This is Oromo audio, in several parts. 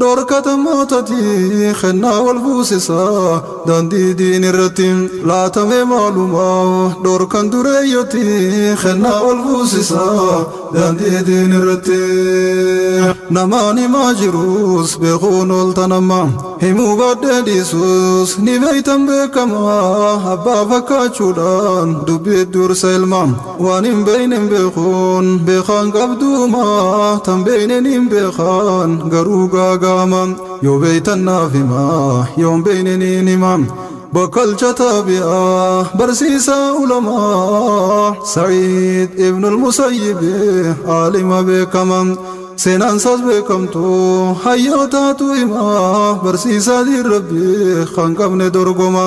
Dhorkata mootati kennaa wal fuusisa daandii diinirratti laatamee maalumaaf dhorkan dureeyyoti kennaa wal fuusisa daandii diinirratti namaan himaa jiruus beekuun ooltan amma himuu baadhee dhiisuus ni beektan beekama abbaa fakkaachuudhaan dubbii dursa ilma Waan hin beeyne hin beekuun beekaan qabduuma tan beeynen hin beekaan garuu gaagaama yoo beeytan naaf hima yoon beeyne niin hima bakkalcha taabi'a barsiisaa ulamaa sa'iid ibnul musayyibi aalima beekama seenaansaas beekamtu hayyootaatu hima barsiisaa diin rabbii kan qabne dorgoma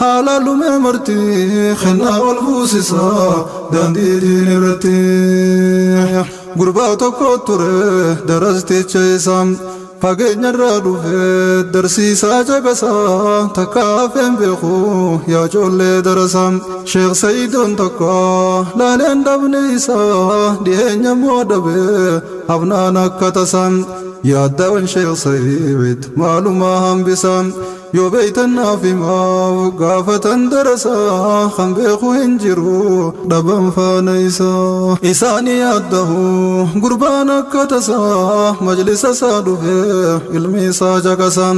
Haalaa lumee marti kennaa wal fuusisa daandii diin irratti gurbaa tokko ture darasticha isaa fageenyarraa dhufe darsiisaa caqasa takka hafeen beeku yaa coollee darasa sheek sayidoon tokko laaleen dhabni isaa dhiyeenya moo dhabe hafnaan akka tasa yaaddawan sheek sayid maalumaa hambisa Yoo beeytan naaf himaa gaafatan darasa kan beeku hin jiru dhaban faana isaa. Isaani yaaddahu gurbaan akka tasaa majlisa isaa dhufe ilmi isaa caqasa.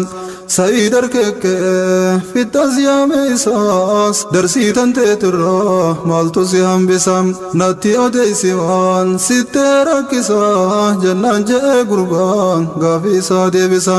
Sa'iid harkeekkee fixxas yaame isaas darsii tanteetirraa maaltu si hambisa natti odeessi waan sittee rakkisa jennaan je'ee gurbaan gaafii isaa deebisa.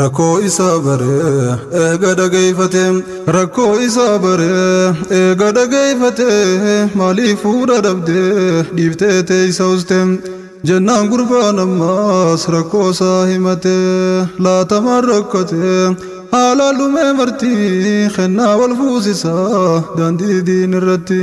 Rakkoo isaa bare eega dhageeyfate Rakkoo isaa bare eega dhageeyfate Maaliif fuudha dhabde dhiiftee teeysa uste Jennaan gurbaan ammaas rakkoo isaa himate Laatamaan rakkate haalaan dhumee marti Kennaa wal fuusisaa daandii diin irratti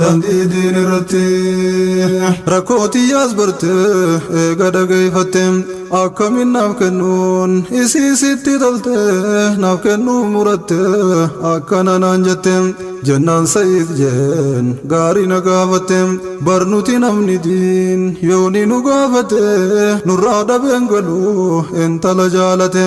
Daandii diin irratti rakkoo tiyyaas barte eega dhageeffatte akkamiin naaf kennuun isii sitti tolte naaf kennuu muratte akkana naan jette jennaan sa'iid jeen gaarii na gaafatte barnuti namni diin yooni nu gaafate nurraa dhabeen galu intala jaalate.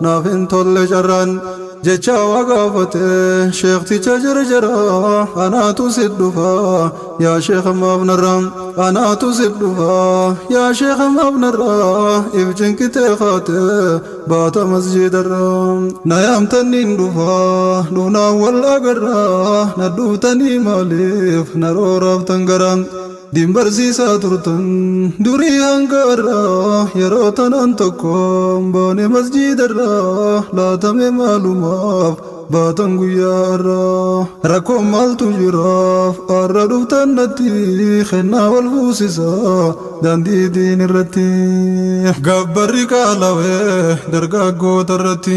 Naaf hin tolle carraan jechaa waa gaafate Sheekticha jarjara anaatu sit dhufa Yaa Sheeka maaf narra anaatu sit dhufa Yaa Sheeka maaf narra if cinqitee kaate Baata masjiidarra na yaamtan niin dhufa Dhufnaan wal agarra na dhuuftanii maaliif na rooraaftan gara Din barsiisaa turtan durii hanga har'aa Yeroo tanaan tokkoon baane masjiidarraa Laata mee maalumaaf baatan guyyaa har'aa Rakkoon maaltu jiraaf har'a dhuftan natti Kennaa wal fuusisaa daandii diinirratti Gabbarri qaalawee dargaggootarratti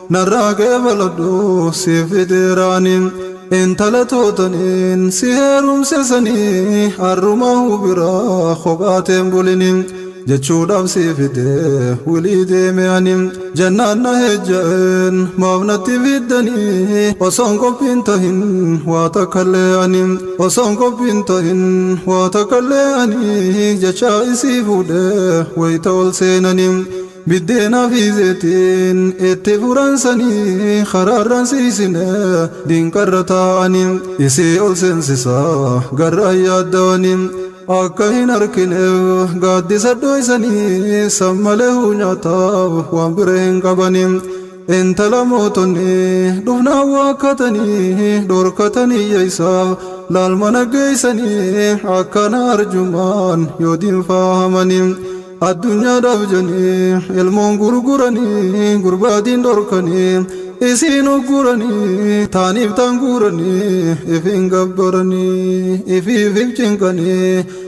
Narraa keefaladhu siif fideeraani Intala tootaniin si heerumse sani Har'umaahu bira kophaa tee hin bulini Jechuudhaaf si fide wilii deeme ani Jennaan na heejja'een maaf natti fiddani Osoon qophiin tahin waa takkallee ani Osoon qophiin tahin waa takkallee ani Jechaa isii fuudhee wayta ol seenani Biddeena fi zeetiin itti furan sanii karaarran siisine diinqarra taa'ani isii ol seensisa gar'aan yaaddawani akka hin arkineef gaaddisa dhooysanii san male huu nyaataaf waan bira hin qabani Intala mootonni dhufnaan waakkatanii dhorkatanii yeessa laal mana geessanii akkana arjummaan yoo diinfaa hamanii addunyaadhaaf janii ilmoon gurguranii gurbaadiin dhorkanii isiin ugguranii taaniif taan guuranii ifiin gabbaranii ifiif if cinqanii